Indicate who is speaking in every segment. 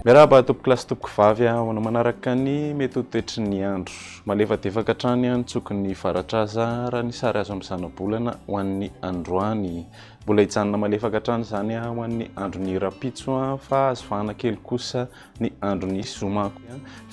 Speaker 1: Miarahaba tompoko lahy sy tompoko vavy ahoana manaraka ny mety ho toetry ny andro. Malefadefaka hatrany ny tsoky ny faratraza raha ny sary azo amin'ny zanabolana ho an'ny androany. Mbola hijanona malefaka hatrany izany ho an'ny andron'ny rahampitso fa azo vahana kely kosa ny andron'ny zoma.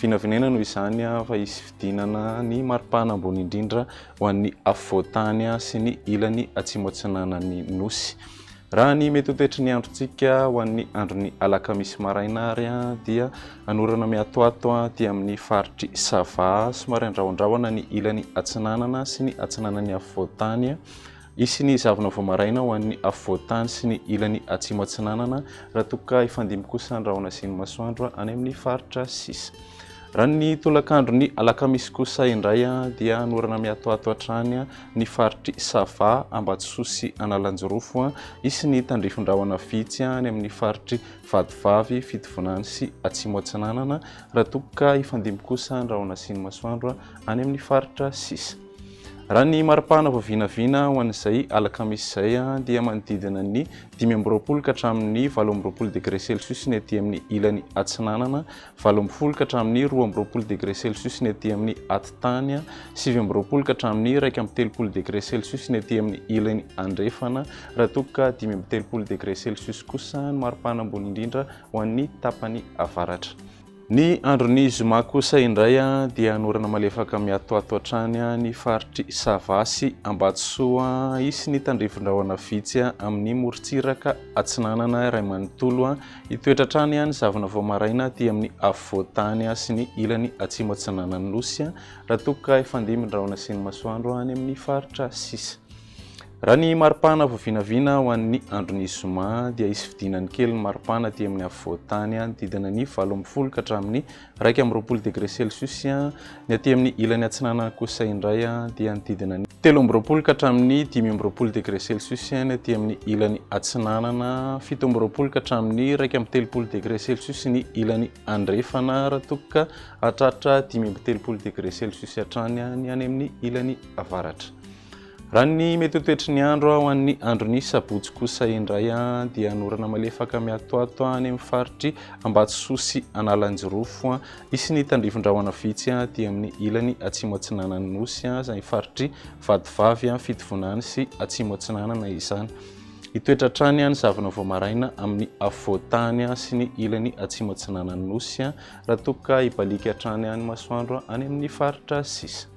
Speaker 1: Vinavinaina noho izany fa hisy fidinana ny maripana ambony indrindra ho an'ny afovoan-tany sy ny ilany atsimo-atsinanan'ny Nosy. Raha ny mety ho toetry ny androntsika ho an'ny andron'ny alakamisy maraina ary dia hanorana miatoato aty amin'ny faritry Sava somary andrahondrahona ny ilany atsinanana sy ny atsinanan'ny afovoan-tany. Hisy ny zavona vao maraina ho an'ny afovoan-tany sy ny ilany atsimo atsinanana raha toa ka hifandimby kosa ny rahona sy ny masoandro any amin'ny faritra sisa. Raha ny tolakandron'ny alakamisy kosa indray dia hanorana miatoato hatrany ny faritry Sava, Ambatosoa sy Analanjirofo. Hisy ny tandrifin-drahona vitsy any amin'ny faritry Vatovavy, Fitovinany sy Atsimo Atsinanana raha toa ka hifandimby kosa ny rahona sy ny masoandro any amin'ny faritra sisa. Raha ny mari-pahana vao vinavina ho an'izay alakamisy izay dia manodidina ny dimy amby roapolo ka hatramin'ny valo amby roapolo degre celsius ny aty amin'ny ilany atsinanana, valo ambin'ny folo ka hatramin'ny roa amby roapolo degre celsius ny aty amin'ny atitany, sivy amby roapolo ka hatramin'ny iraika amby telopolo degre celsius ny aty amin'ny ilany andrefana, raha toa ka dimy amby telopolo degre celsius kosa ny mari-pahana ambony indrindra ho an'ny tapany avaratra. Ny andron'ny zoma kosa indray dia hanorana malefaka mihatohato hatrany ny faritr'i Sava sy Ambatosoa. Hisy ny tandrifin-drahona vitsy amin'ny morontsiraka atsinanana iray manontolo hitoetra hatrany ny zavona vao maraina aty amin'ny afovoan-tany sy ny ilany atsimo atsinanan'ny Nosy raha toa ka hifandimbin-drahona sy ny masoandro any amin'ny faritra sisa. Raha ny maripana vao vinavina ho an'ny andron'ny zoma dia hisy fidinany kely ny maripana aty amin'ny afovoan-tany hanodidina ny valo ambin'ny folo ka hatramin'ny iraika amby roapolo degré celsius, ny aty amin'ny ilany atsinanana kosa indray dia hanodidina ny telo amby roapolo ka hatramin'ny dimy amby roapolo degré celsius, ny aty amin'ny ilany atsinanana, fito amby roapolo ka hatramin'ny iraika amby telopolo degré celsius ny ilany andrefana raha toa ka hahatratra dimy amby telopolo degré celsius hatrany ny any amin'ny ilany avaratra. Raha ny mety ho toetry ny andro ho an'ny andron'ny sabotsy kosa indray dia hanorana malefaka miatoato any amin'ny faritry Ambatosoa sy Analanjirofo. Hisy ny tandrifin-drahona vitsy aty amin'ny ilany atsimo atsinanan'ny nosy izay faritry Vatovavy, Fitovinany sy Atsimo Atsinanana izany. Hitoetra hatrany ny zavona vao maraina amin'ny afovoan-tany sy ny ilany atsimo atsinanan'ny nosy raha toa ka hibaliaka hatrany ny masoandro any amin'ny faritra sisa.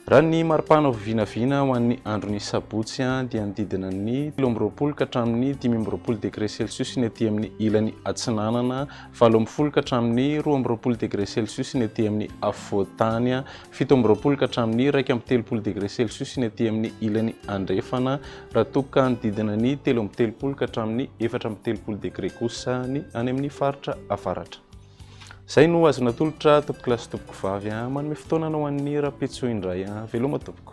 Speaker 1: Raha ny maripana ho vinavina ho an'ny andron'ny sabotsy dia ny didina ny telo amby roapolo ka hatramin'ny dimy amby roapolo degre celsius ny aty amin'ny ilany atsinanana, valo ambin'ny folo ka hatramin'ny roa amby roapolo degre celsius ny aty amin'ny afovoan-tany, fito amby roapolo ka hatramin'ny iraika amby telopolo degre celsius ny aty amin'ny ilany andrefana, raha toa ka ny didina ny telo amby telopolo ka hatramin'ny efatra amby telopolo degre kosa ny any amin'ny faritra avaratra. Zay no azo natolotra tompokolahy sy tompokovavy an! Manome fotoana anao an'i Rapetso indray an! Veloma tompoko!